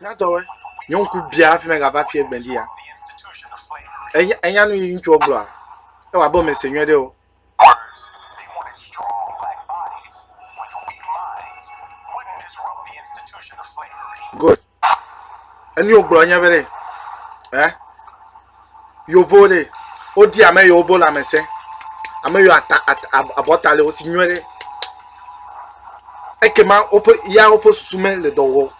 Nyatɔwɔe, nye ŋku bia hafi megava fie gbelia. Enya, enya nu yi ŋutsuɔ gblɔa? Ewɔ abe womese nyuie ɖe o. Good. Enu yi wogblɔ nye be ɖe, eh? Yevuwo ɖe, wodi ame yiwo bo lãmesẽ, ame yiwo ata at abɔta le wo si nyuie ɖe. Ekema woƒe ya woƒe susu mele dɔ wɔm.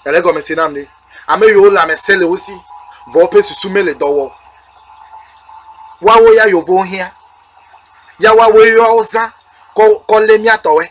Ele gɔme se nam ɖe. Ame yiwo lãmesẽ le wo si vɔ woƒe susu mele dɔ wɔm. Woawo ya yevuwo hiã. Ya woawoe ya wozã kɔ kɔ lé mía tɔwoe.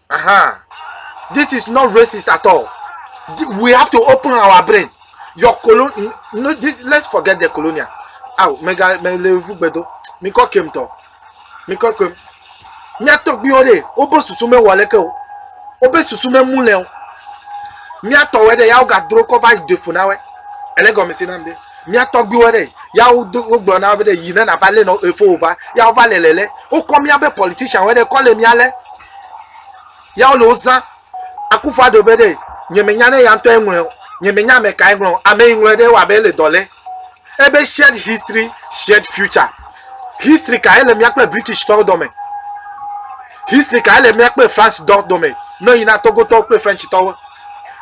Uh-huh. This is not racist at all. We have to open our brain. Your colon, no, let's forget the colonial. Aw, mega, mele vu gbedo. Mi kɔ kem tɔ. Mi kɔ kem. Mia tɔgbiwo de, wobe susu me wale ke o. Wobe susu me mu le o. Mia tɔwe de, yawo gadro kɔ va de funa we. Ele gɔme si nam de. Mia tɔgbiwo de, yawo gblɔ na be de yi ne na va le no efo va. Yawo va le lele. Wokɔ mia be politician we de kɔ le mia le. ya wole wo zã akufu ado be ɖe nyemenya ne ya ŋutɔ eŋlɔe o nyemenya ame ka eŋlɔ ame yi ŋlɔe ɖe wɔ abe ele dɔ lɛ ebe shared history shared future history ka ele mía kple british tɔwo dɔme history ka ele mía kple france dɔ dɔme ne yina togotɔwo kple french tɔwo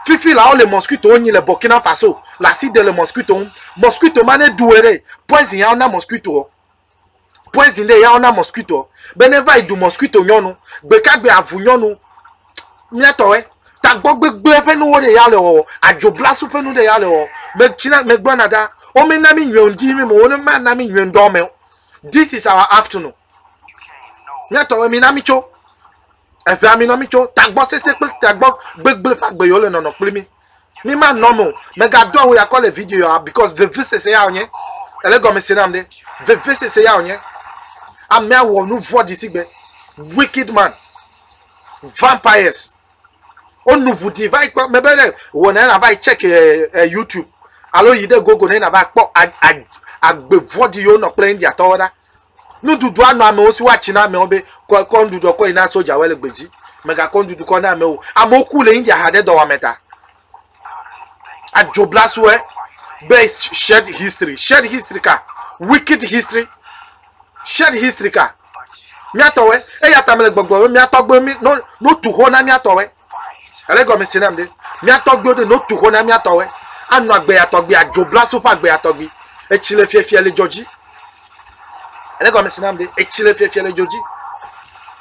fifi la wole mosquito nyi le burkina faso la si de le mosquito ŋu mosquito ma ne duwe ɖe poison ya wona mosquito poison ɖe ya ona mosquito be ne va yi du mosquito nyɔnu gbekagbe avu nyɔnu miatɔwɛ tagbɔ gbegblẽ ƒe nuwo ɖe ya le wɔwɔ adzoblasu ƒe nu ɖe ya le wɔwɔ metsina megblɔna ɖa wo me na mi nyuie ŋdi mi mo wo ne ma na mi nyuie ŋdɔ me this is our afternoon miatɔwɛ mi na mi tso Eʋe ami nɔ mi tso tagbɔ sese kple tagbɔ gbegble ƒe agbe yio le nɔnɔ kpli mi. Mi ma nɔ me o. Mega do awu yakɔ le video ya because veve sese ya wonye. Ele gɔme se nam ɖe. Veve sese ya wonye. Amea wɔ nu vɔ dzi sigbe. Wicked man. Vampires. O nu ʋu di va yi kpɔ. Mebe ɖe wɔ na na va yi check eh, eh, YouTube. Alo yi ɖe gogo na na va kpɔ agbe vɔ di yio nɔ kple India tɔwo ɖa. Nuɖuɖua nɔ amewo si woatsi na amewo be kɔ kɔ nuɖuɖua kɔ yi na sodzawoe le gbedzi. Mègakɔ nuɖuɖu kɔ na amewo. Amewo ku le India ha ɖe dɔwɔame ta. Adzoblasuwoe be shared history. Shared history ka? Wicked history. Shared history ka? Míatɔwoe. Eya ta mele gbɔgblɔm be míatɔgbuiwo mí no no tu xo na míatɔwoe. Ele gɔme si nam ɖe. Mía tɔgbiwo ɖe no tu xɔ na mía tɔwe. Anɔ agbe ya tɔgbi, adzo bla so ƒe agbe ya tɔgbi. Etsi le fiafia le dzɔ dzi. Ele gɔme si nam ɖe. Etsi le fiafia le dzɔ dzi.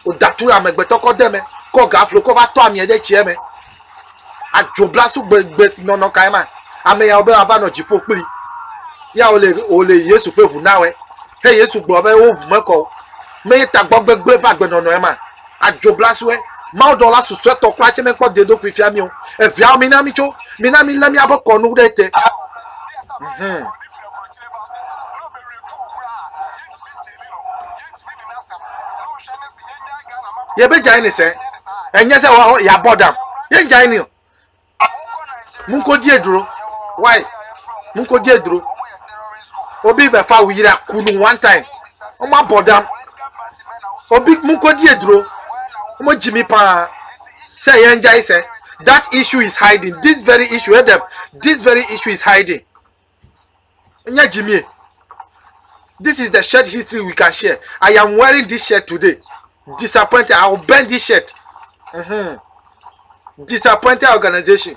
Woda tu amegbetɔ kɔ de me. Kɔ gaflo kɔ va tɔ amia ɖe tsia me. Adzo bla so gbe gbe nɔnɔ kae ma. Ame yawo be wava nɔ dziƒo kpli. Ya wole wole Yesu ƒe ʋu nawɔe. He Yesu gblɔ be wo ʋu mekɔ o. Me ye tagbɔ gbegble va gbenɔnɔe ma. Adzoblasue. Mawudɔla susɔetɔ kura tsɛ mekpɔ deɖokui fia mí o. Eveawo, mina mítso. Mina mílé míaƒe kɔnu ɖe te. Mhm. Yebe dzaini se. Enye se wa yabɔ dam. Ye dzaini o. Mun ko die dro. Why? Mun ko die dro. Obi be fa wira kunu one time. Omo abodam. Obi mun ko die dro. Omo Jimmy pa. Say enjoy say that issue is hiding. This very issue, Adam. This very issue is hiding. Nye Jimmy. This is the shirt history we can share. I am wearing this shirt today. Disappointed. I will burn this shirt. Mm-hmm. Disappointed organization.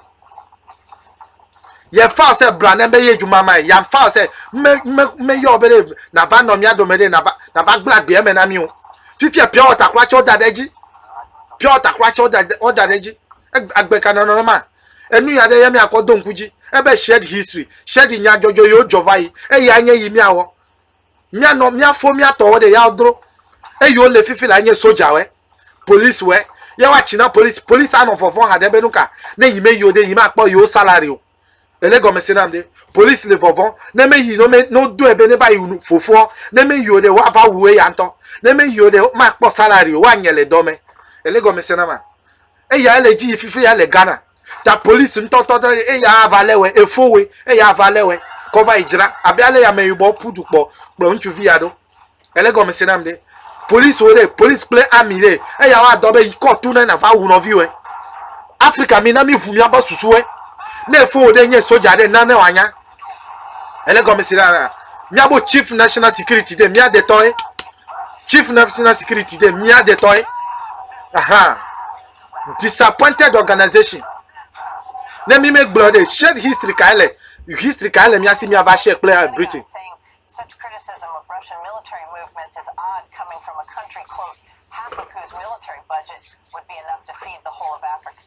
yɛn fa sɛ bla ne be ye dwuma ma yɛn fa sɛ me me me yɔ be ɖe nava nɔ mía dome ɖe nava nava gblẽ agbea me na mi o fifia pia ɔtakura tsɛ ɔda ɖe edzi pia ɔtakura tsɛ ɔda ɖe edzi agbe ka nɔnɔ ma. Enu ya ɖe ye míakɔ do ŋku dzi ebe shared history, shared nyadzɔdzɔ yiwo dzɔ va yi, eyae nye yi míawɔ. Míanɔ míafo mía tɔwo ɖe yawo dro. Eyiwo le fifi lae nye sojawoe, policiwoe. Ye woatsi na police, police anɔ vɔvɔ̃ haɖe be nuka ne yi meyi o ɖe, yi makpɔ yewo salary o. Ele gɔmese nam ɖe? Police le vɔvɔ̃ ne meyi no me ne wodoe be neva yi wu fofoa, ne meyi o ɖe woava wu eya ŋutɔ, ne meyi o ɖe makpɔ salary o, woanye le dɔ me. Ele gɔmese nama? Eya ele dzi yi fifi ya le Ghana. Ta polisi ŋutɔtɔ ɖe eya ava lé wɛ, efo wɛ, eya ava lé wɛ, kɔ va yi dzra. Abe ale ya meyibɔ ƒu du kpɔ kplɔ ŋutsuvi ya ɖo. Ele gɔme se nam ɖe. Polisi wo ɖe, polisi kple ami ɖe, eya wa dɔ be yi kɔtu ne na va wu nɔvi wɛ. Afrika mi na mi ŋu mi aba susu wɛ. Ne efo wɛ ɖe nye soja ɖe na ne wa nya. Ele gɔme si ɖa la, míabo Chief National Security de mía detɔe. Chief National Security de mía detɔe. Aha. Disappointed organization. Ne mi megblɔ ɖe shared history kae le history kae le mía si míava share kple eh, Britain. Such criticism of Russian military movements is odd coming from a country, quote, half of whose military budget would be enough to feed the whole of Africa.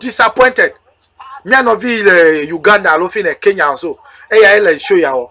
disappointed mía nɔvi le uganda alo fi le kenya so eyae le show ya wɔ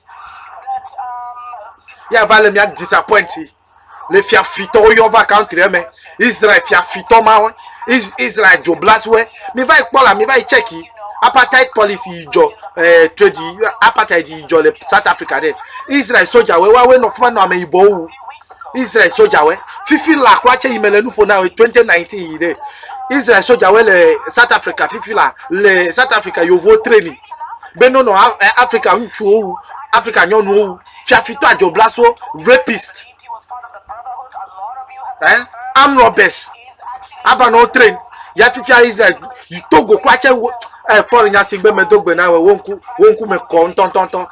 ya va le mia disappoint le fia fitɔ wo yɔ va country me israel fia fitɔ ma we israel dzo blas we mi va ikpɔ la mi va check apartheid policy yi jɔ eh, trade apartheid yi jɔ le south africa de israel soja we wa we nɔ fuma nɔ ame yibɔ wu israel soja we fifi la kura tse yi me le nuƒo na we 2019 yi de israel soja we le south africa fifi la le south africa yovo training be nɔnɔ Afrika ŋutsuwo wu, Afrika nyɔnuwo wu, fiafitɔ adzɔblaso, rapist, eh, arm robbers, ava nɔ train, ya fifia Israel, yi Togo kura tse, eh, fɔri nya sigbe me do gbe na wo, wo ŋku, wo ŋku me kɔ ŋutɔntɔntɔ,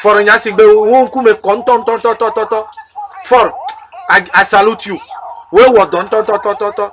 fɔri nya sigbe wo ŋku me kɔ ŋutɔntɔntɔtɔtɔtɔ, fɔri, I, I salute you, wo wɔ dɔ ŋutɔntɔtɔtɔtɔ.